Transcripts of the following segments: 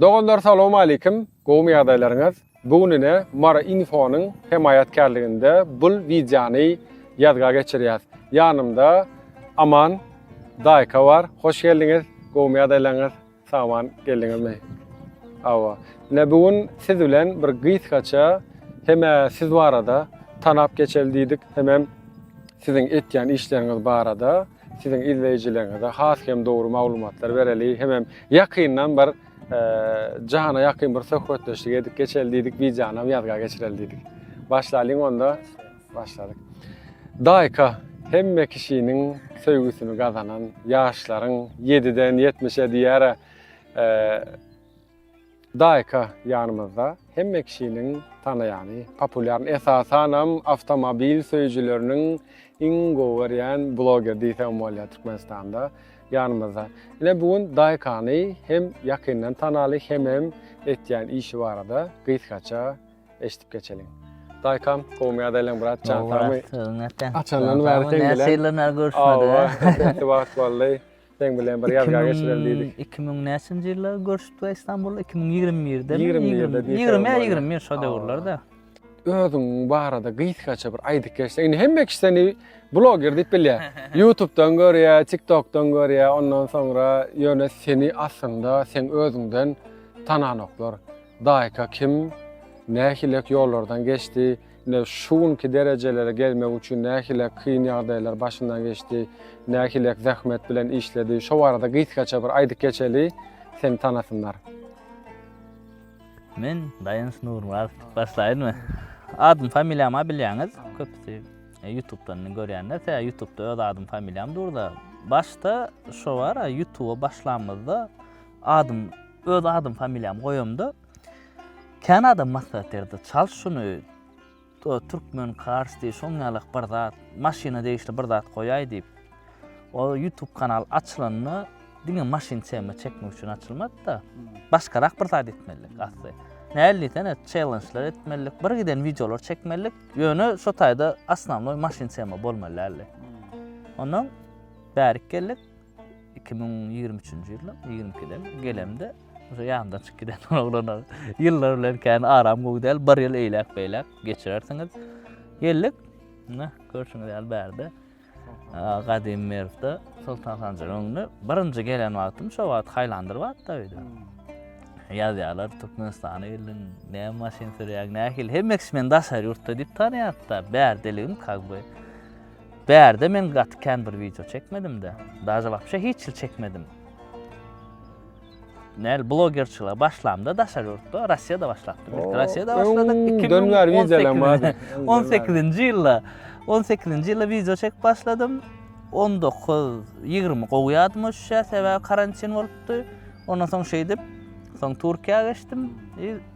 Doganlar salawmalikim, gowmy ýagdaýlaryňyz? Bu gün ine Mary infonyň hemaýatkärliginde bul wideony ýazga geçirýäs. Ýanymda Aman daýka bar. Hoş geldiňiz, gowmy ýagdaýlaňyz? Sagaman geldiňizmi? Hawa. Ine bu gün siz bilen bir gysgaça hemä siz barada tanap geçeli diýdik, hemem siziň etýän işleriňiz barada. Siziň izleýjileriňize has hem dogry maglumatlar bereli hemem ýakyndan bir jana ýakyn bir söhbetdeşlik edip geçeli diýdik, wideonam ýazga geçireli diýdik. Başlalyň onda. Başladyk. Daýka hemme kişiniň söýgüsini gazanan ýaşlaryň 7-den 70-e diýýär. Daýka ýanymyzda hemme kişiniň tanaýany, populýarny, esasanam awtomobil söýüjileriniň iň gowy görýän bloger diýsem bolýar Türkmenistanda ýanymyzda. Ine bu gün Daýkany hem ýakyndan tanaly hemem etýän işi barada gysgaça eşidip geçeliň. Daýkam gowmy ýagdaýlaň brat jan sagmy? Açandan bäri teňdelen. Näçe ýyldan bäri görüşmedik. Hawa, köp wagt boldy. Seň bilen bir ýazga geçirelim diýdik. Iki müň näçinji ýylda görşüpdik a Istanbulda? Iki müň ýigrimi birde. Ýigrimi birde diýsem. Ýigrimi ýa ýigrimi bir şo döwürlerde. Özüň barada gysgaça bir aýdyp geçseň. Indi hemme kişi seni bloger diýip bilýär. YouTube-dan görýär, TikTok-dan görýär. Ondan soňra ýöne seni aslynda sen özüňden tananoklar. Daýka kim? Nähilek ýollardan geçdi? Ine, şu günki derejelere gelmek üçin nähili kyn ýagdaýlar başyndan geçdi, nähili zähmet bilen işledi, şo barada gysgaça bir aýdyp geçeli, seni tanasynlar. Men Daýanç Nurmyradow diýip başlaýynmy? Adym, familiýam-a bilýäňiz, köpüsi e, YouTube-dan görýänler, tä YouTube-da öz adym, familiýam dur-da. Başda şo bar, YouTube-a başlamyzda adym, öz adym, familiýam goýamda, Kän adam maslahat berdi, çal şuny, Türkmen Cars diýip, şoň ýalak bir zat, maşyna degişli bir zat goýaý diýip. O YouTube kanal açylanda diňe maşyn tema çekmek üçin açylmady-da. Başgarak bir zat etmelidik asly. Näl diýsene, çellenjler etmelidik, bir giden wideolar çekmelidik. Ýöne şo taýda asnamnoý maşyn tema bolmaly däldi. Ondan bärik geldik. iki müň ýigrimi üçünji ýyl ýigrimi ikiden gelemde şu ýandan çykyp giden oglanlar ýyllar bilen kän aram gowy däl bir ýyl eýläk beýläk geçirersiňiz geldik ne görşüňiz ýaly bärde gadymy merwde soltan sanjaryň öňüne birinji gelen wagtym şo wagt haýlandyr wagtda öýde hmm. ýazýarlar türkmenistana geldiň näme maşyn sürýäň nähili hemmesi meni daşary ýurtda diýip tanaýardy da bärdeligim как бы Bärde men gaty kän bir wideo çekmedimdä. Daže wapşe hiç hil çekmedim. Näl blogerçilige başlamda daşary ýurtda, Russiýada başlapdym. Ilki Russiýada başladyk. 2018-nji 18-nji ýylda 18-nji ýylda wideo çekip başladym. 19-20 gowy ýadyma düşýär, sebäbi karantin bolupdy. Ondan soň şeýdip, soň Türkiýä geçdim.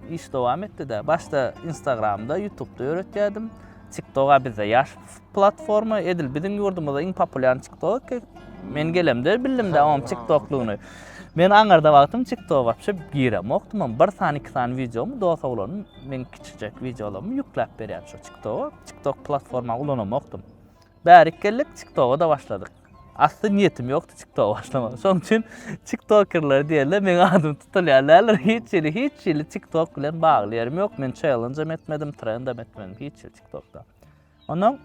Iş dowam etdi-de. Başda Instagramda, YouTubda ýöretýärdim. TikToka bizde ýaş platforma edil biziň ýurdumyzda iň populýarny TikTok. Men gelemde bildim de oňam TikToklugyny. Men aňarda wagtym TikTok wapşe girem okdum, ama bir sany iki sany videomy dosa ulanm, men kiçijek videolarymy ýükläp berýän şu TikTok. TikTok platforma ulanam okdum. Bärik geldik TikToga da başladyk. Asly niýetim ýokdy TikTok başlamak. Şoň üçin TikTokerler diýende meň adym tutulýan däldir. Hiç hili, hiç hili TikTok bilen bagly ýerim ýok. Men challenge hem etmedim, trend hem etmedim, hiç hili TikTokda. Ondan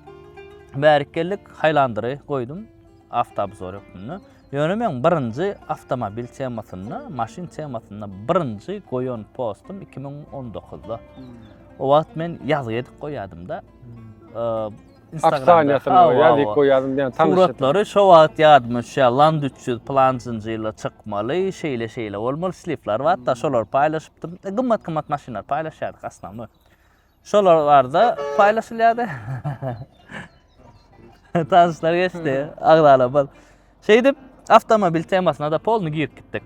bärik geldik, Highlander-y goýdum, Aftaby zor hökmünde. Ýöne meň birinji awtomobil temasynda, maşyn temasynda birinji goýan postum iki müň on dokuzda. O wagt men ýazgy edip goýýardym-da. Instagramda ýazgy goýýardym diýen tanyşym. Suratlary şo wagt ýadyma düşýär, Land üç ýüz pylanjynjy ýylda çykmaly, şeýle-şeýle bolmaly, slipler bar-da, şolary paýlaşypdym. Gymmat-gymmat maşynlary paýlaşýardyk, osnownoý. Şolar barada paýlaşylýardy. Tanyşlar geçdi, agzalarymyz. Şeýdip, awtomobil temasyna da polny girip gitdik.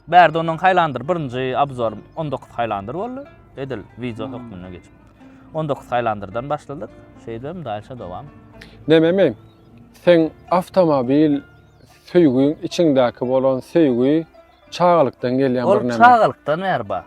Bärde onuň haýlandyr birinji obzor 19 haýlandyr boldy. Edil wideo hökmünde geçip. 19 haýlandyrdan başladyk. Şeýdem dalşa dowam. Nememi? Seň awtomobil söýgiň içiňdäki bolan söýgi Çagalykdan gelýän bir näme. Ol çagalykdan bäri bar.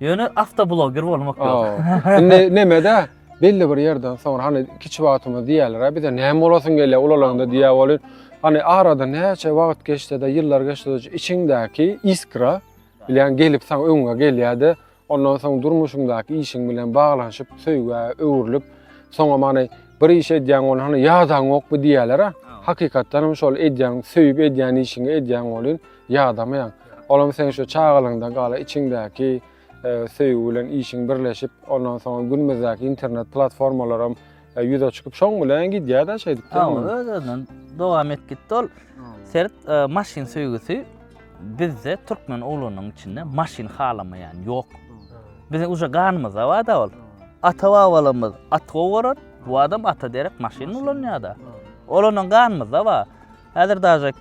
Ýöne awtobloger bolmak ýok. Indi nämede? Belli bir ýerden soň hani kiçi wagtymyz diýerler, bize näme bolasyň gelýär ulalanda diýä bolýar. Hani arada näçe wagt geçse-de, ýyllar geçse-de içiňdäki iskra bilýän gelip saň öňüňe gelýär-de, Ondan soň durmuşyňdaky işiň bilen baglanyşyp söýgä öwrülip, soňam hany bir iş edýäň welin hany ýadaňokmy diýýäler-ä. Hakykatdan hem şol edýän, söýüp edýän işiňi edýäň welin ýadamaýaň. Olam seň şu çagalygyňdan galan içiňdäki söýgi bilen işiň birleşip, ondan soňam günümizdäki internet platformalaram E, ýüze çykyp şoň bilen gidýär-de şeýdip. Ha, özünden dowam et gitdi ol. Sert e, maşyn söýgüsi bizde türkmen oglunyň içinde maşyn halamaýan ýok. Biziň uja ganymyzda bar-da ol. Ata babalarymyz at gowaran, bu adam ata derek maşyn ulanýar-da. Ol onuň ganymyzda bar. Häzir daže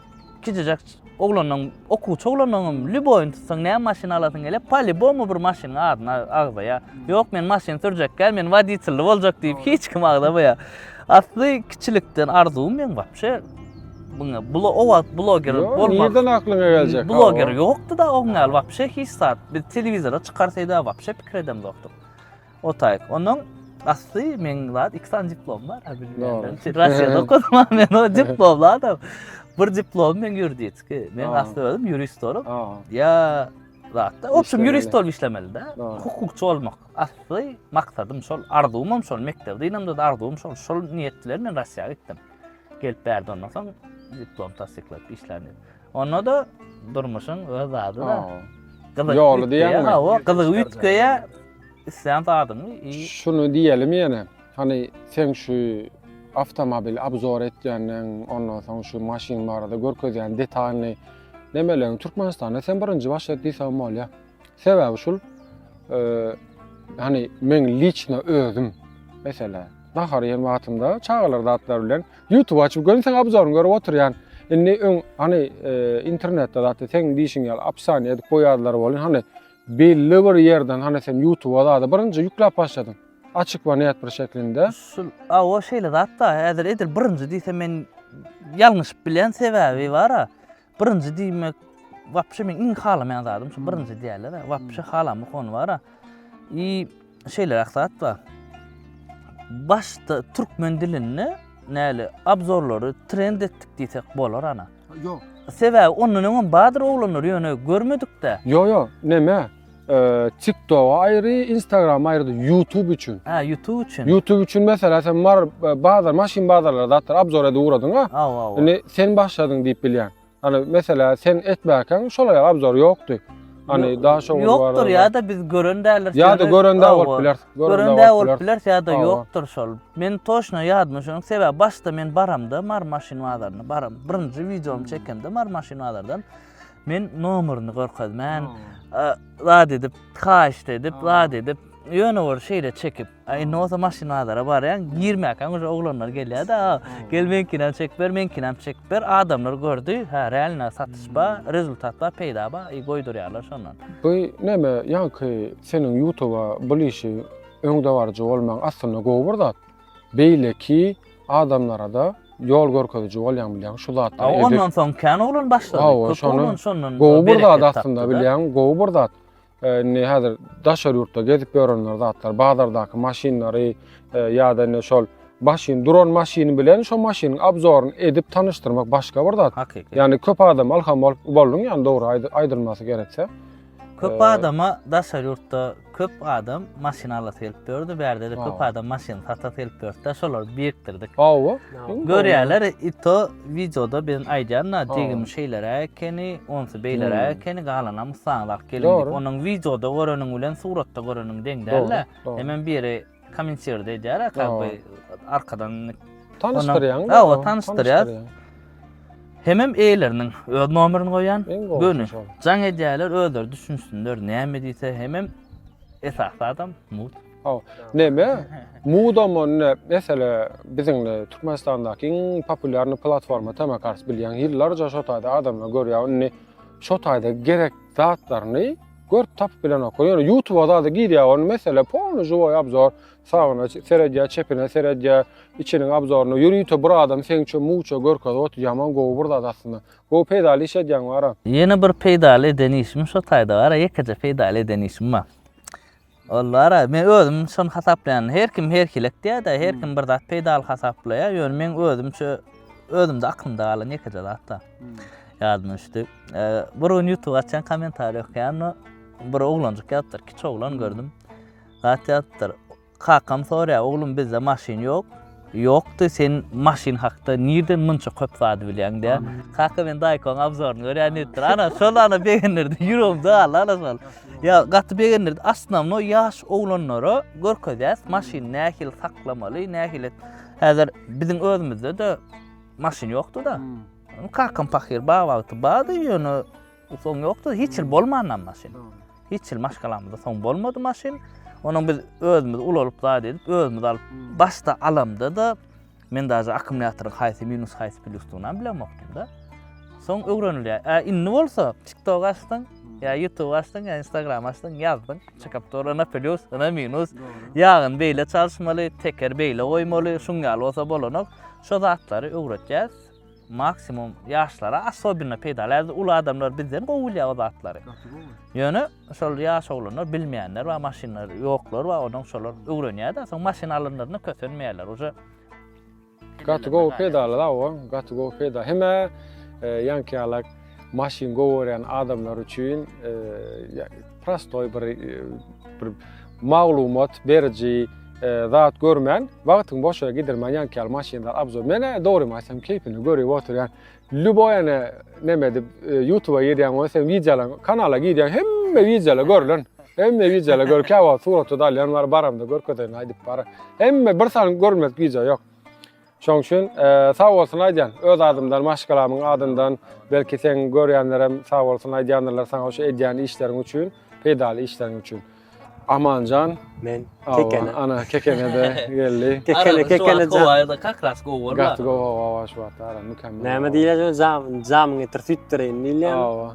kijijek oglandan okuwçy oglandan hem lýuboýyny tutsaň näme maşyn alasyň gelýär pa lýubomu bir maşynyň adyny agzaýar ýok men maşyn sürjek däl men woditelli boljak diýip hiç kim agzamaýar asly kiçilikden arzuwym meň wapşe muňa bula o wagt bloger Ýok, bolmak nirden aklyňa geljek bloger ýokdy da oň ýaly wapşe hiç zat biz telewizora çykarsyda wapşe pikir edemzokdyk O taýk. Ondan asly meň zat iki sany diplom bar. Russiýada okadym men o diplomly adam. Bir diplom men ýuridiki. Men asly özüm ýurist bolup, ýa zatda, obşim ýurist bolup işlemeli-de. Hukukçy bolmak asly maksadym şol, arzuwym hem şol. Mekdep dynamda da arzuwym şol. Şol niýet bilen men Russiýa gitdim. Gelip bärde ondan soň diplom tassyklap işläni. Onda-da durmuşyň öz zady-da. Gyzyk Ýoly diýýäňmi? Hawa, gyzygy üýtgeýä islän zadyňy. Şuny diýelim ýene. Hany sen şu awtomobil abzor etýänden, ondan soň şu maşyn barada görkezýän detalyny näme elän Türkmenistanda sen birinji başlat diýseň bolýa. Sebäbi şul, hani men liçna özüm, mesela, nahar ýen wagtymda çagalar zatlar bilen YouTube açyp görüň, sen abzoryny görüp oturýan. Indi öň hani e, internetde zatda sen diýişiň ýaly apsany edip goýarlar bolýan, hani belli bir ýerden hani sen YouTube zatda birinji ýükläp başladyň. Açyk we net bir şeklinde. Şul, a o şeýle zatda, häzir edil birinji diýse men ýalňyşyp bilen sebäbi bar-a. Birinji diýmek, wapşe meň iň halamaýan zadym şu birinji diýýärler-ä. Wapşe halamok ony bar-a. I şeýleräk zat bar. Başda türkmen dilinde näli abzorlary trend etdik diýsek bolar ana. Ýok. Sebäbi ondan öňem bardyr oglanlar ýöne görmedik-dä. Ýok, ýok, neme? TikTok aýry, Instagram aýry, YouTube üçin. Ha, YouTube üçin. YouTube üçin mesela sen mar bazar, maşyn bazarlara zatlar abzor edip ugradyň ha. Ha, ha. Indi sen başladyň diýip bilýän. Hani mesela sen etmäkäň şolar ýaly abzor ýokdy. Hani daha şoňa bar. Ýokdur ýa-da biz gören däliris. Ýa-da gören dä bolup biler. Gören dä bolup biler ýa-da ýokdur şol. Men toşna ýadyma şonuň sebäbi başda men baramda mar maşyn bazaryna baram. Birinji wideomy çekemde mar maşyn bazardan. Men nomerini görkezmän, zat edip, haýyşt edip, zat edip, ýöne bir şeýle çekip, indi bolsa maşyn bazara barýan, girmäkäň uje oglanlar gelýär-de, gel meňkinem çekip ber, meňkinem çekip ber, adamlar gördi, hä, realno satyş bar, rezultat bar, peýda bar, i goýdurýarlar şondan. Bu näme, ýaňky seniň ýutuba bul işi öňdebaryjy bolmaň aslynda gowy bir zat. Beýleki adamlara-da ýol görkeziji bolýaň bilýäň şu zatlar. Aw ondan soň kän oglan başlady. Aw şonu şondan gowy bir zat aslynda bilýäň, gowy bir zat. Indi häzir daşary ýurtda gezip ýörenler zatlar, bazardaky maşynlary e, ýa-da indi şol maşyn duran maşyny bilen şu maşynyň abzoryny edip tanyşdyrmak başga bir zat. Hakyky. Ýani köp adam alham bolup bolduň ýani dogry aýdylmasy gerekse. Köp adama daşary ýurtda köp adam maşyn alasy gelip ýördi. Bärde-de köp adam maşyn satasy gelip ýördi. Şolar birikdirdik. Hawa. Görýärler, ito wideoda biziň aýdýanna degim şeýlere ekeni, onsy beýlere ekeni, galanam ussaňyz alyp geliň. Onuň wideoda göreniň bilen suratda göreniň deň däl-de. Hemen biri Kommentirde edýär, ha, kak be, arkadan tanyşdyrýan. Ha, o tanyşdyrýar. Hemem eýleriniň öz nomerini goýan, göni jaň edýärler, özleri düşünsinler, näme diýse, hemem esasy adam mut. Ha, näme? Mudam onda mesela biziň Türkmenistandaky iň populýarny platforma Tamakars bilýän ýyllarja şo taýda adamlar görýär, indi şo taýda gerek zatlaryny Görüp tapyp bilenoklar. Ýöne YouTube zada girýär ony mesele polny žiwoý obzor. Sagyna seredýär, çepine seredýär, içiniň obzoryny. Ýörite bir adam seňçe muwça görkezip otyr. Ýaman gowy bir zat aslynda. Gowy peýdaly iş edýäň Wara. Ýene bir peýdaly eden işim şo taýda Wara ýekeje peýdaly eden işim bar. Ol bara, men özüm şony hasaplaýan. Her kim her hili etýär-de, her kim bir zat peýdaly hasaplaýar. Ýöne meň özümçe, özümde aklymda galan ýekeje zat-da. Ýadyma düşdi. Bir gün YouTube açýan, kommentariýa okaýanda bir oglanjyk ýazypdyr, kiçi oglan gördüm. Zat ýazypdyr. Kakam soraýar, oglum bizde maşyn ýok. Ýokdy sen maşyn hakda nirden munça köp zady bilýäň diýä. Kaka men daýkoň abzoryny görýän diýipdir. Ana şol ana begendirdi ýüregim dagyldy ana şol. Ýa gaty begendirdi asnamno ýaş oglanlara görkezýäs maşyn nähili saklamaly nähili häzir biziň özümizde de maşyn ýokdyda. Kakam pahyr bag wagty bardy ýöne Soň ýokdy, hiç ýyl bolmanam maşyn. Hiç ýyl maşgalamyzda soň bolmady maşyn. Onuň biz özümiz ulalyp zat edip, özümiz alyp, başda alamda-da men daže akkumulýatoryň haýsy minus, haýsy plusdygynam bilemokdym-da. Soň öwrenilýär. Ä indi bolsa TikTok açdyň, ýa YouTube açdyň, ýa Instagram açdyň, ýazdyň, çykyp dur, ynha plus, ynha minus, ýagyny beýle çalyşmaly, tekeri beýle goýmaly, şuň ýaly bolsa bolanok. Şo zatlary öwretýäris. Maksimum ýaşlara asobino peýdaly. Häzir uly adamlar bizden gowy bilýär o zatlary. Gaty gowy. Ýöne şol ýaş oglanlar bilmeýänler bar, maşynlary ýoklar bar, ondan şolar öwrenýär-de, soň maşyn alanlarynda kösenmeýärler. Uje Gaty gowy peýdaly-la owaň, gaty gowy peýdaly. Hemä ýaňky ýalak. maşyn gowarýan adamlar üçin prostoý bir bir maglumat beriji zat görmän, wagtyň boşa gidirmän ýanky ýaly maşynlar abzor. Menä dogrymy aýtsam keýpini görüp oturýan. Lüboý ene neme edip YouTube-a girýän bolsa sen wideolar kanala girýän hemme wideolar görlen. Hemme wideolar gör käwa suratda da alýan bar baramda görkezeýin aýdyp bar. Hemme bir sany görmedik wideo ýok. Şoň üçin sag bolsun aýdýan. Öz adymdan, maşgalamyň adyndan, belki seň görýänlerem sag bolsun aýdýandyrlar saňa şu edýän işleriň üçin, peýdaly işleriň üçin. Amanjan, men Kekene. Ana Kekene de geldi. Kekene, Kekene jan. Arada kak ras gowy bolma. Gaty gowy gowy şu wagtda ara mükemmel. Näme diýýär jan, jamyň getir süýtdireýin diýýär. Hawa.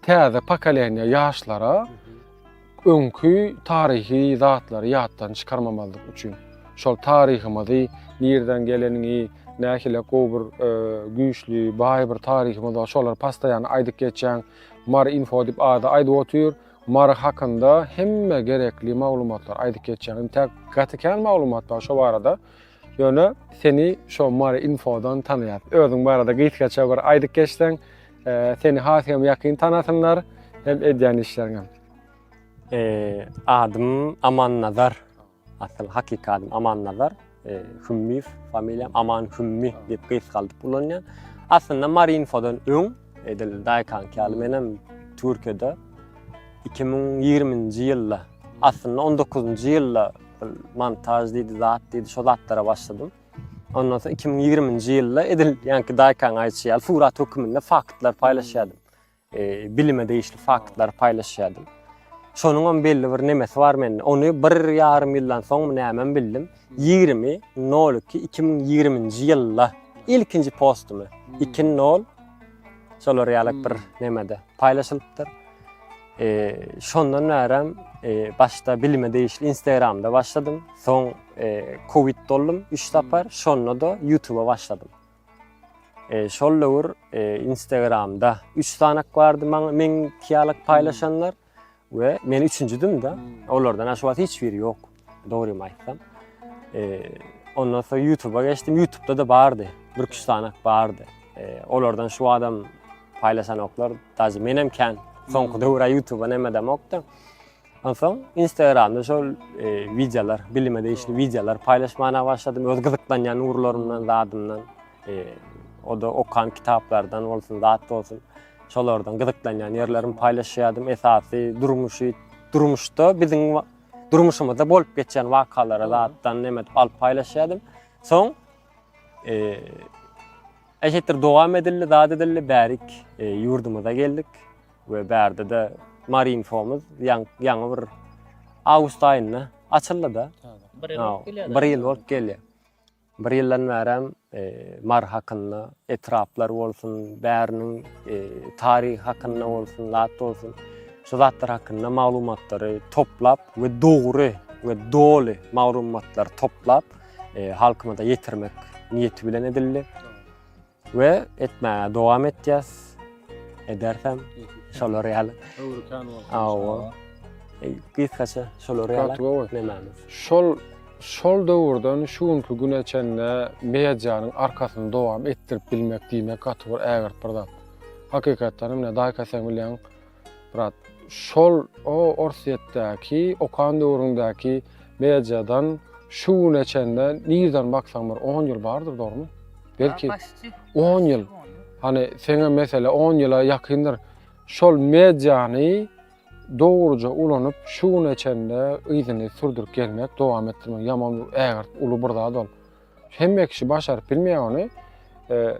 Täze pokoleniýa ýaşlara öňki taryhy zatlary ýatdan çykarmamazlyk üçin, şol taryhymyzy, nirden gelenini, nähili gowy bir e, güýçli, baý bir taryhymyz bar, şolary pastaýan aýdyp geçýän Mar info diýip ady aýdyp otyr. Mar hakynda hemme gerekli maglumatlary aýdyp geçýän. Indi täk gaty kän maglumat bar şo barada. Ýöne seni şo Mary infodan tanaýar. Özüň barada gysgaça bir aýdyp geçseň, e, seni has hem ýakyn tanasynlar hem edýän işleriňem. E, adym Aman Nazar. Asyl hakyky adym Aman Nazar. E, Hümmiýew familiýam Aman Hümmi diýip gysgaldyp ulanýan. Aslynda Mary infodan öň edil daýkan ýaly menem Türkiýede 2020-nji ýylda, aslynda 19-njy ýylda montaj diýdi, zat diýdi, şo zatlara başladym. Ondan soň 2020-nji ýylda edil ýanki daýkaň aýtýy ýaly surat hökmünde faktlar paýlaşýardym. E, bilime degişli faktlar paýlaşýardym. Şonuň hem belli bir nemesi bar mende. Ony bir ýarym ýyldan soň nämem bildim. 20.02.2020-nji ýylda ilkinji postumy 2.0 şolar ýaly bir nemede paýlaşylypdyr. Şondan bärem başda bilime degişli Instagramda başladym. Soň covid doldum 3 sapar, şonda-da YouTube-a başladym. Şol döwür Instagramda 3 sanak bardy maňa meň kiýalyk paýlaşanlar we men üçünjidim-de. Olardan şu wagt hiç biri ýok. Dogrymy aýtsam. Ondan soň YouTube-a geçdim. YouTube-da da bardy. Bir üç sanak bardy. Olardan şu adam paýlaşan oklar, dazy men hem kän soňky döwür YouTube-a näme demokdy. Ondan soň Instagram-da şol wideolar, bilime degişli wideolar paýlaşmaga başladym. Öz gyzyklanýan ugurlarymdan, zadymdan. O da okan kitaplardan bolsun, zat bolsun. Şolardan gyzyklanýan ýerlerimi paýlaşýardym. Esasy durmuşy, durmuşda biziň durmuşymyzda bolup geçýän wakalara zatdan näme alyp paýlaşýardym. Soň eee Eşitdir dowam edildi, zat edildi, bärik e, ýurdumyza geldik we bärde de Marinfomuz ýaňy bir awgust aýynda açyldy da. Bir ýyl bolup gelýär. Bir ýyldan bärem Mary hakynda, etraplar bolsun, bäriniň taryhy hakynda bolsun, zat bolsun, şu zatlar hakynda maglumatlary toplap we dogry we doly maglumatlary toplap, halkymyza ýetirmek niýeti bilen edildi. We etmäge dowam etýäs. Edersem şolar ýaly. Öwrükan bol. Hawa. Gysgaça şolar ýaly. Nämämiz? Şol şol döwürden şu günki güne çenli medianyň arkasyny dowam etdirip bilmek diýmek gaty bir ägirt bir zat. Hakykatdan hem, ine, Daýka sen bilýäň, brat. Şol o Orsýetdäki okan döwrüňdäki mediadan şu güne çenli nirden baksaň bir 10 ýyl bardyr dogrymy? Belki 10 ýyl. Hani seňe mesele 10 ýyla ýakyndyr. Şol mediany dogruca ulanyp şu güne çenli yzyny sürdürip gelmek dowam etdirmek ýaman ägirt uly bir zat ol. Hemme kişi başaryp bilmeýär ony. E,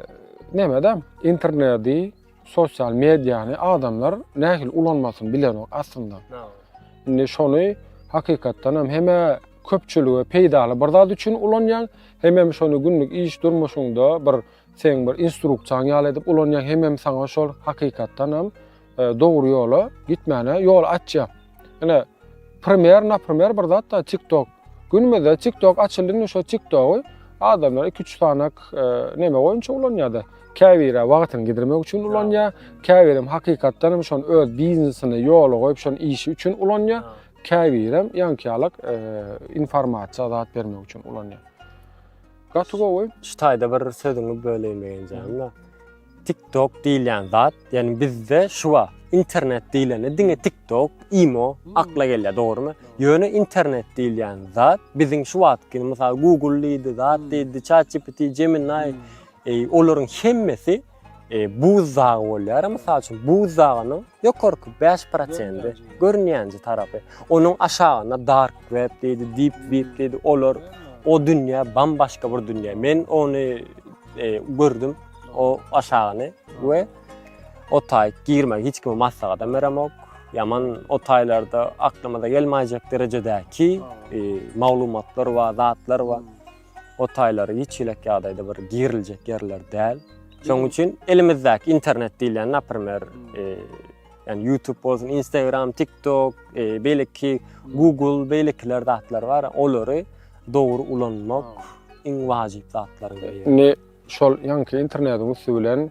Nämedem interneti, sosial mediany adamlar nähili ulanmasyny bilenok aslynda. Indi şony hakykatdan hem hemme köpçülige peýdaly bir zat üçin ulanýan, hem hem şony günlük iş durmuşyňda bir sen bir instruksiýaň ýaly edip ulanýan, hem hem saňa şol hakykatdan hem e, dogry ýola gitmäne ýol açýar. Ine, primer, na primer bir zat da TikTok. Günümüzde TikTok açyldy, indi şo TikTogy adamlar 2-3 sanak e, näme boýunça ulanýar-da? Käbiri wagtyny gidirmek üçin ulanýar, käbiri hakykatdan hem şony öz biznesini ýola goýup, şony işi üçin ulanýar, käbiri hem ýankyýalak e, informasiýa zat bermek üçin ulanýar. Gaty gowy. Şu taýda bir sözüňi böleýin begenjämde. TikTok diýilýän zat, ýani bizde şu bar. Internet diýilende diňe TikTok, imo akla gelýär, dogrumy? Ýöne internet diýilýän zat biziň şu wagtky mysal Google diýdi, zat diýdi, ChatGPT, Gemini, eý, olaryň hemmesi E, buz dagy bolýar, mysal üçin buz dagynyň ýokarky 5 prosendi görünýänji tarapy. Onuň aşagynda dark web diýdi, deep web diýdi. Olar o dünýä bam başga bir dünýä. Men ony e, gördüm o aşagyny we o taý girme hiç kime maslahat hem beremok. Ýaman o taýlarda aklyma da gelmäýjek derejedäki e, maglumatlar we zatlar we o taýlary hiç hili ýagdaýda bir giriljek ýerler däl. Şonuň üçin elimizdäki internet diýilýän, naprimer, e, yani YouTube bolsun, Instagram, TikTok, e, belki Google, belkiler zatlar var. Olary dogry ulanmak iň wajyp zatlar. Ne şol yanki internetiň üstü bilen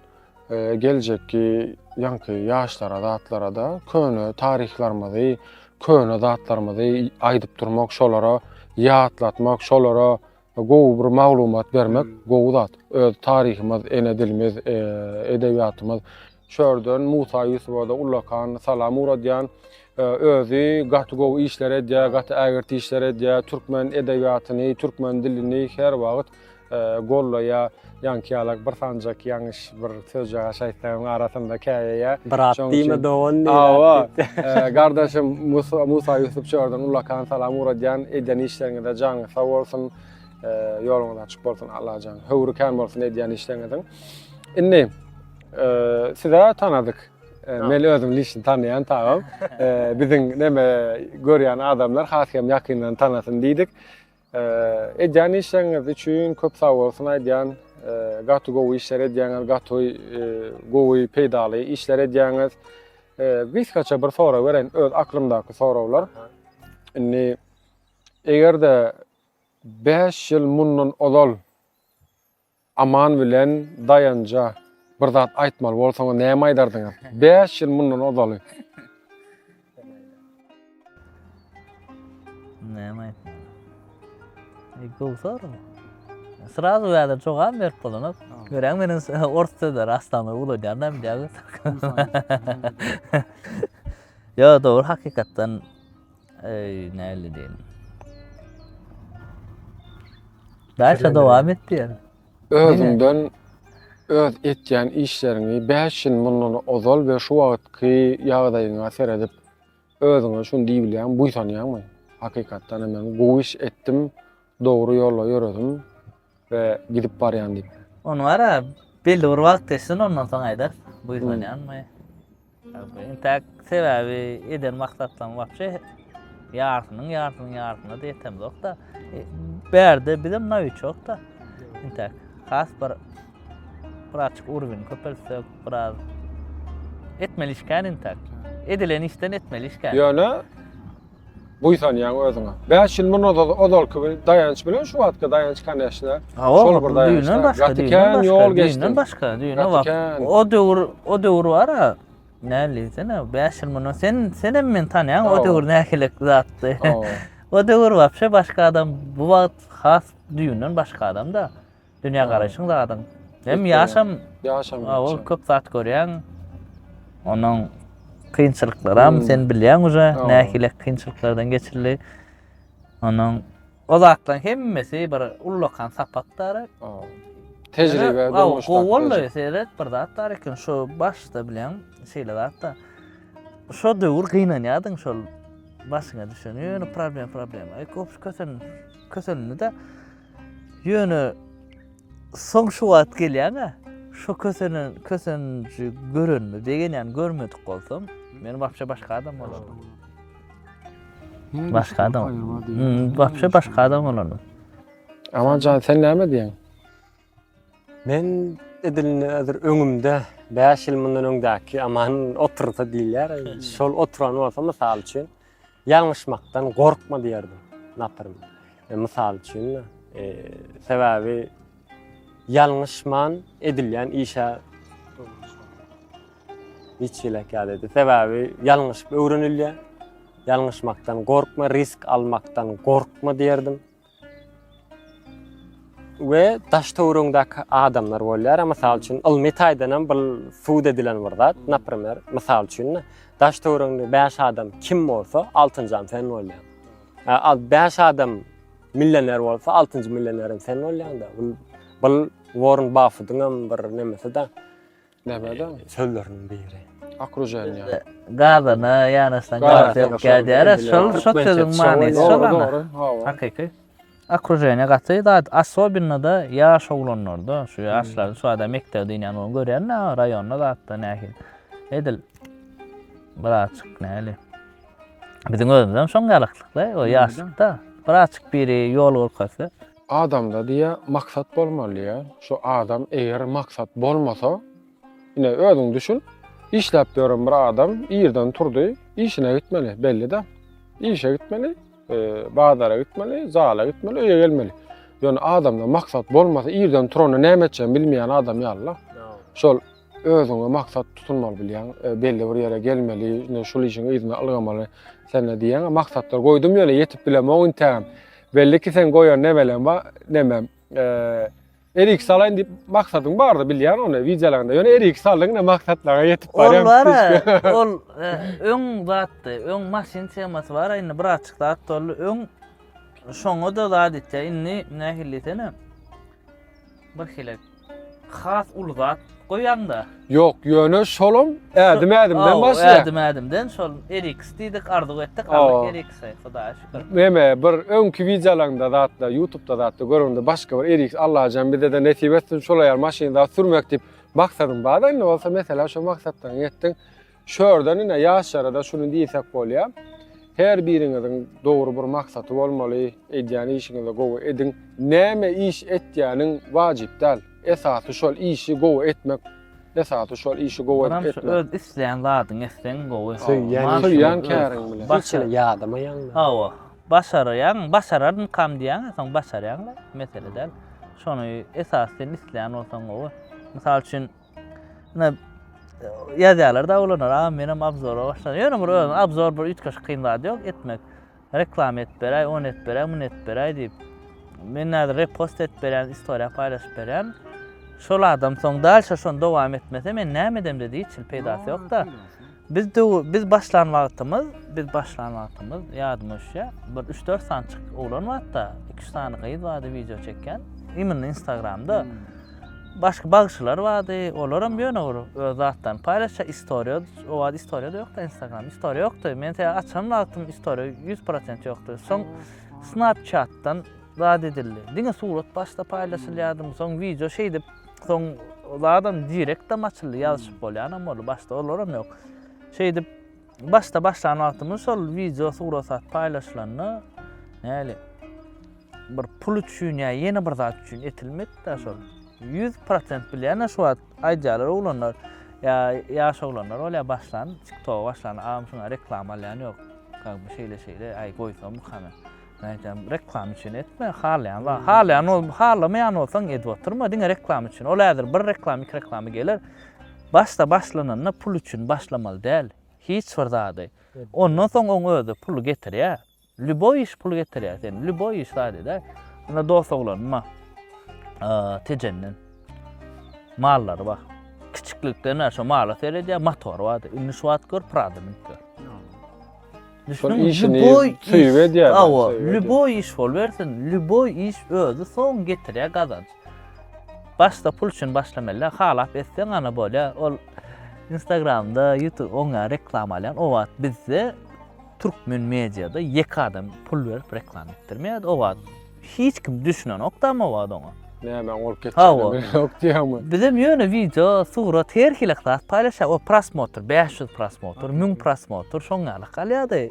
Geljekki ýaňky ýaşlara zatlarada köne taryhlarymyzy, köne zatlarymyzy aýdyp durmak, şolara ýatlatmak, şolara gowy bir maglumat bermek gowy zat. Öz taryhymyz, ene dilimiz, edebiýatymyz. Şu ýerden Musa Ýusuba-da ullakan salam ugradýan. Özi gaty gowy işler edýär, gaty ägirt işler edýär. Türkmen edebiýatyny, türkmen dilini her wagt gollaýa ýaňkyýalak bir sanjak ýaňyş bir sözjagaş aýtsaň arasynda käýeýä brat diýme dogan awa gardaşym musa musa ýusup çörden ullakan salam ugradýan edýän işleriňizde jaňyz sag bolsun ýoluňyz açyk bolsun allajan höwri kän bolsun edýän işleriňiziň indi size tanadyk men özüm lişni tanýan tagam biziň neme görýän adamlar has hem ýakyndan tanasyn diýdik Edýän işleriňiz üçin köp sag bolsun aýdýan. Gaty gowy işler edýäňiz, gaty gowy, peýdaly işler edýäňiz. Gysgaça bir sorag bereýin, öz aklymdaky soraglar. Indi eger-de 5 ýyl mundan ozal Aman bilen Daýanja bir zat aýtmaly bolsaňyz näme aýdardyňyz? Bäş ýyl mundan ozaly. Näme aýtmaly? E, Gowy sorag. Srazu bäde jogap berip bolanok. Göräň meniň s- ors sözleri aslan uladýan da bilýäňiz. Ýa dogry hakykatdan Eý, näli diýen. Daşa dowam et diýen. Özüňden öz etýän işleriňi 5 ýyl mundan ozal we şu wagtky ýagdaýyňa seredip, özüňe şuny diýip bilýäňmi, buýsanýaňmy? Hakykatdan hem men gowy iş etdim, dogry ýola ýöredim. we gidip barýan diýip. Ony wara belli bir wagt geçsin ondan soň aýdar buýsanýanmy. Intäk sebäbi eden maksatlaryň wapşe ýarsynyň ýarsynyň ýarsyna ýetemzokda. Bärde bizem nawiçokda. Intäk has bir bir açyk urwin köpeltsek biraz etmeli işkän intäk. Edilen işden etmeli işkän. Ýöne buýsanýaň özüňe. Bäş ýyl mundan ozalky bir Daýanç bilen şu wagtky Daýanç koneşne. Şol bir Daýanç. Gaty kän ýol geçdi. Düýnden başga, düýne wagt. O döwür, o döwür bar-a. Näme diýsene, bäş ýyl mundan sen, sen hem meni tanýaň, o döwür nähilek zatdy. O döwür wapşe başga adam, bu wagt has düýnden başga adam-da. Dünýägaraýşyň zadyň. Hem ýaşam. Ýaşam. Ol köp zat görýäň. Onuň kynçylyklaram sen bilýäň uje nähili kynçylyklardan geçildi. Onuň o zatlaryň hemmesi bir ullakan sapakdyr. Tejribe durmuşda. Gowy boldy. Seret bir zat bar eken şu başda bilýän şeýle zatda. Şu döwür gynanýardyň şol başyňa düşen ýöne problem problema. Köp kösen kösenini de Ýöne soň şu wagt gelýän-ä, şu kösenen, köseniji görenimi begenýän, görmedik bolsam, men wapşe başga adam bolardym. Başga adam. Wapşe başga adam bolardym. Aman jan, sen näme diýýäň? Men edilini häzir öňümde 5 ýyl mundan öňdäki Aman otursa diýilýär. Şol oturan bolsa, mysal üçin, Ýalňyşmakdan gorkma diýerdim Napyrym. E, mysal üçin, e, sebäbi ýalňyşman edilýän işe hiç ýelek ýadedi. Sebäbi ýalňyşyp öwrenilýär. Ýalňyşmakdan gorkma, risk almakdan gorkma diýerdim. we daş-töwregiňdäki adamlar bolýar. Mysal üçin, ylmy taýdan hem bu subut edilen bir zat. Naprimer, mysal üçin, daş-töwregiňde bäş adam kim bolsa, altynjy adam sen bolýaň. Al, bäş adam millioner bolsa, altynjy millioner hem sen bolýaň-da. Bu Warren Buffettiň hem bir nemesi-de. Nämäden? Sözleriniň biri. Okruženýa. Gazana ýanaşsaň Gaz gaz ýok ýanaşan kä diýýär. bilen. Şol şol Türkmençe sözüň şoňa manysy ýok. şol Dogry, ana. dogry. Hawa. Hakyky. Okruženýa gaty zat, особенно-da ýaş oglanlarda, şu ýaşlarda, şu adam mekdebe dynýan bolan görýän-de ha, raýonda zatda nähili. Edil birazçyk nähili. Biziň özümizem şoň ýalaklykda, o ýaşlykda. Birazçyk biri ýol görkezse, Adamda diýä maksat bolmaly diýä. Şu adam eger maksat bolmasa, ine özüň düşün, işläp ýören bir adam irden turdy, işine gitmeli, belli-de. Işe gitmeli, e, bazara gitmeli, zala gitmeli, öýe gelmeli. Ýöne adamda maksat bolmasa, irden turany näme etjegini bilmeýän adam ýaly-la. Şol Özüňe maksat tutunmaly bilýän, e, belli bir ýere gelmeli, indi şul işiň yzyna ylgamaly sende diýýän maksatlar goýdum ýöne ýetip bilemok intägem. Belli ki sen goýan nemelem bar, nemem. E, Erik salaýyn diýip maksadyň bardy bilýän ony wideolaryňda. Ýöne erik saldyň ne maksatlara ýetip barýan. Ol bar, ol e, öň zatdy, öň maşyn temasy bar, indi bir açyk zat boldy. Öň şoňa da zat etýär. Indi nähili desene. Bir hili has uly zat goýaňda. Ýok, ýöne şolam ädim-ädimden başlaýar. Ädim-ädimden şol RX diýdik, arzuw etdik, aldyk RX, Hudaýa şükür. Meme bir öňki wideolaňda zatda, YouTube-da zatda görende başga bir RX Allajan bize-de nesip etsin şolaýar maşyn zat sürmek diýip maksadym bardy. Indi bolsa meselem şo maksatlaryňy ýetdiň. Şörden ine ýaşlara-da şuny diýsek bolýar. Her biriňiziň dogry bir maksaty bolmaly, edýän işiňizi gowy ediň. Näme iş etýäniň wajyp däl. Esasy şol işi gowy etmek. Esasy şol işi gowy edip etmek. Onam öz isleýän zadyňy etseň gowy. Söýýän käriň bilen. Hiç hili ýadamaýaň-da. Hawa. Başarýaň, başararmykam diýýäň-ä, soň başarýaň-da, mesele däl. Şony esasy sen isleýän bolsaň gowy. Mysal üçin. Ýa ýazýarlar da olar, a menem obzora başladym. Ýöne bir özüm obzor bir üýtgeşik kyn zat ýok etmek. Reklama edip beräý, on edip beräý, mun edip beräý diýip. Men näze repost edip berýän, istoriýa paýlaşyp berýän. Şol adam soň dalşa şony dowam etmese men näme edemde diýip, hiç peýdasy ýok-da. Biz döw biz başlan wagtymyz, biz başlan wagtymyz ýadyma düşýä. Bir 3-4 sany çyk oglan bardy-da, 2-3 sany gyz bardy wideo çekýän. Imенно Instagramda. Hmm. Başga bagşylar bardy, olar hem ýöne bir öz zatlaryny paýlaşýar, istoriýa, o wagt istoriýa-da ýokdy Instagram, istoriýa ýokdy. Men sen açan wagtym istoriýa 100% ýokdy. Soň Snapchat-dan zat edildi. Diňe surat başda paýlaşylýardy, soň wideo şeýdip Soň zadam direktam açyldy, ýazyşyp bolýanam boldy, başda olaram ýok. Şeýdip, başda başlan wagtymyz şol wideo surat-sat paýlaşylanda, näli, bir pul üçin ýa ýene bir zat üçin etilmedi-de şol. Ýüz prosent bilýän-ä şu wagt aýdýarlar oglanlar, ýa ýaş oglanlar bolýar başlan, tiktoga başlan, agam şuňa reklama alýan ýok, kak bu şeýle-şeýle, äý goýsamyka men. Nädýän reklama üçin etme, halaýan wagt, halaýan bol, halamaýan bolsaň edip oturma, diňe reklama üçin. Ol häzir bir reklama, iki reklama geler. Başda başlananda pul üçin başlamaly däl. Hiç bir zady. Ondan soň oň özi pul getirýär. Lýuboý iş pul getirýär sen. Lýuboý iş zady-da. Onda dost oglanma. Tejenden. Mallary bar. Kiçiklikden şu mala seredýär, motor bardy. Indi şu wagt gör Prada münüp gör. Düşündüňmi? Şol işini Lüboý söýüp iş- edýär bä, Awa, söýüp edýär. lüboý iş bolbersin, lüboý iş özi soň getirýär gazanç. Başda pul üçin başlamaly, halap etseň gana bolýar. Ol Instagramda, YouTube oňa reklama alýan. O wagt bizde türkmen mediada ýeke adam pul berip reklama etdirmeýärdi. O wagt Hiç kim düşünenokda mabat oňa. Näme oň bolup Hawa. geçýänini bilýänok diýýäňmi? Bizem ýöne wideo, surat her hili zat paýlaşýar. O prosmotr, bäş ýüz prosmotr, müň prosmotr şoň ýaly galýardy.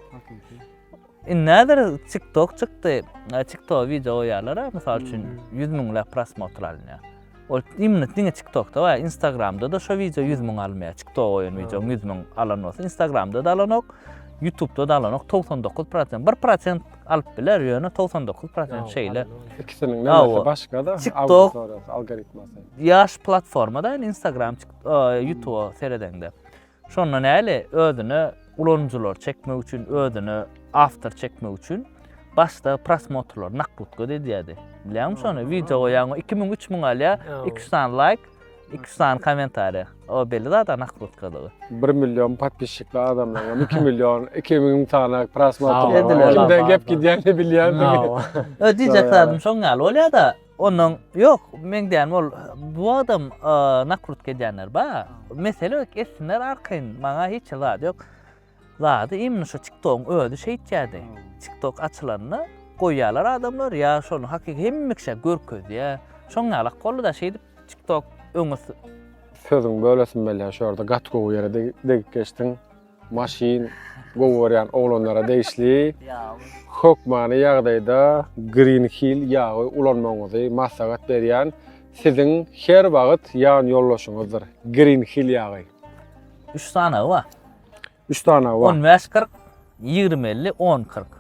Indi näder tiktok çykdy. Tiktoka wideo goýýarlar-a, mysal üçin, ýüz müňläp prosmotr alynýar. Ol imni diňe tiktokda bar instagramdada şo wideo ýüz müň almaya tiktok oýun wideoň ýüz müň alan bolsa instagramdada alanok ýutubdada alanok togsan dokuz prosent bir prosent alyp biler ýöne togsan dokuz prosent şeýle ikisiniň nämäsi başgada tiktok algoritmasy ýaş platformada instagram ýutuba seredeňde Şonda näle, özüne ulanyjylary çekmek üçin, özüne awtor çekmek üçin başda prosmotrlary naklutka edýärdi. Bilýäňmi şony? Wideo goýýaň, iki müň, üç müň alýar, iki ýüz sany laýk, iki ýüz sany kommentariýa. O belli zat-a naklutkadygy. Bir million podpisçikli adamlaryňam iki million, iki müň sany prosmotr. Kimden gep gidýänini bilýänsiňiz. Diýjek zadym şoň ýaly bolýar-da, Ondan ýok, meň dänim ol bu wagtam nakrutka edýänler bar. Mesele etsinler arkaýyn, maňa hiç zat ýok. Zady imni şu TikTok-yň özi şeýtýärdi. TikTok açylanda goýýarlar adamlar ýa şony hakyky hemme kişä görkezýär. Şoň ýaly ak boldy-da şeýdip TikTok öňe Sözüňi bölesim gelýär şu ýerde gaty gowy ýere degip geçdiň. Maşyn gowy görýän oglanlara degişli. Hökmany ýagdaýda Green Hill ýagy ulanmagyňyzy maslahat berýän siziň her wagyt ýan ýoldaşyňyzdyr. Green Hill ýagy. Üç sanagy bar. Üç sanagy bar. On bäş kyrk, ýigrimi elli, on kyrk.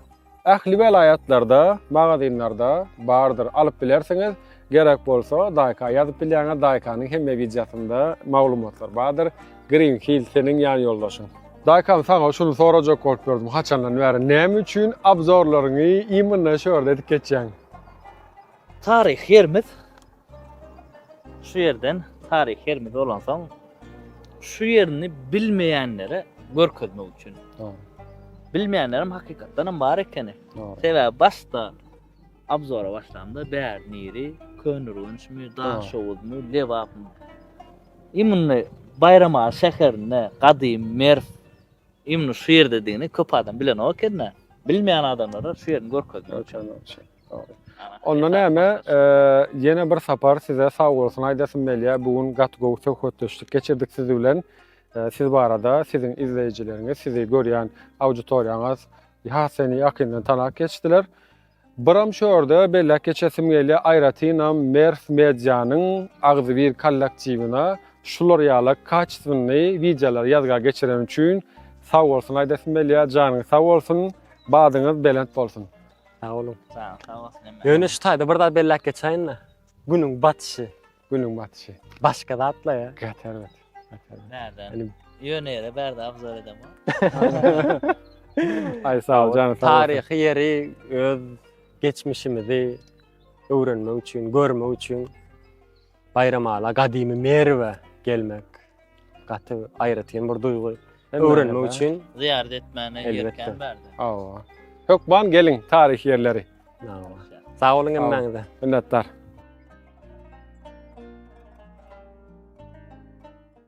Ähli welaýatlarda magazinlarda bardyr alyp bilersiňiz gerek bolsa daýka ýazyp bilýäňiz daýkanyň hemme wideosynda maglumatlar bardyr green hill seniň ýan ýoldaşyň. Daýkam saňa şuny sorajak bolup ýördüm haçandan bäri näme üçin abzorlaryňy imynna şu ýerde edip geçýäň. Taryh ýerimiz Şu ýerden taryhy ýerimiz bolansoň, şu ýerini bilmeýänlere görkezmek üçin. Bilmeýänlerim hakykatdan hem bar ekeni. Sebäbi başda abzora başlamda bär niri, Könürgençmi, Daşoguzmy, Lebapmy. Imni Baýramaly şäherinde gadym Merw imni şu ýerdedigini köp adam bilenok ekeni. Bilmeýän adamlara şu ýerini görkezmek üçin. Onda näme, ýene bir sapar size sag bolsun aýdasym gelýär. Bu gün gaty gowy söhbetdeşlik geçirdik siz bilen. Siz barada siziň izleýjileriňiz, sizi görýän auditoriýaňyz has seni ýakyndan tanap geçdiler. Biram şu ýerde belläp geçesim gelýär, aýratynam Mers Medianyň agzybir kollektiwine şular ýaly kaçestwenny wideolary ýazga geçireni üçin sag bolsun aýdasym gelýär. Janyňyz sag bolsun, badyňyz belent bolsun. Sag boluň. Sag ol, sag bolsun hemme. Ýöne şu taýda bir zat belläp geçäýin-de. Günüň batyşy. Günüň batyşy. Başga zatla ýa. Gaty erbet. Gaty erbet. Näden? Hani- Ýöne ýere bärde abzor edem. Aý sag ol janyň sag bolsun. Taryhy ýeri öz geçmişimizi öwrenmek üçin, görmek üçin Baýramala gadymy Merwe gelmek gaty aýratyn bir duýgy. Öwrenmek üçin zyýarat etmäne ýerkän bärde. Hawa. Hökman geliň taryhy ýerleri. Hawa. Sag boluň hemmäňize. Minnetdar.